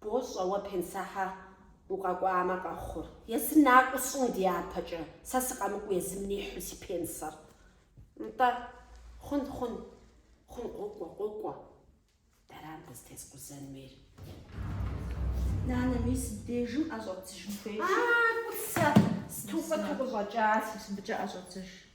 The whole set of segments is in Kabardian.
Бощӏэ уэ пенсэхьэ укъэкӏуамэ къэхъур. Езыр накӏуэу сщӏын дяпэкӏэ, сэ сыкъэмыкӏуэу езым нихьу си пенсэр. Нтӏэ, хъун, хъун, хъун, къокӏуэ, къокӏуэ. Дэрам къызытескъузэн хуейр? Нанэ, мис бдежым ӏэ щӏэдзыжын хуейщ. А, кӏуцэ, сыту къуэту къыщӏэкӏащ. Мис мыбыкӏэ ӏэ щӏэдзыж.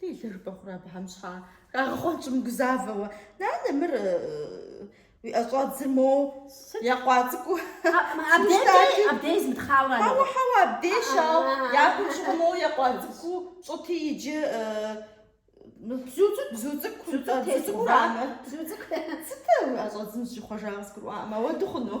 Делэр бэ хъурэ абыхэм щхьэ хагъэхъуэнкӏэ мыгузавэуэ. Нанэ, мыр уи ӏэщӏэдзыр моуэ екъуа цӏыкӏуу. Абдей, абдей змытхъауэ ара? Хьэуэ, хьэуэ, абдей щау япэ щыгъуэ моуэ екъуа цӏыкӏуу пщӏыти иджы бзу цӏыкӏу, бзу цӏыкӏу, бзу цӏыкӏу тесхъуба? Бзу цӏыкӏу. Сытэ уи ӏэщӏэдзым зыщӏихъуэжа къызгурыӏуакъым, ауэ дауэ хъуну?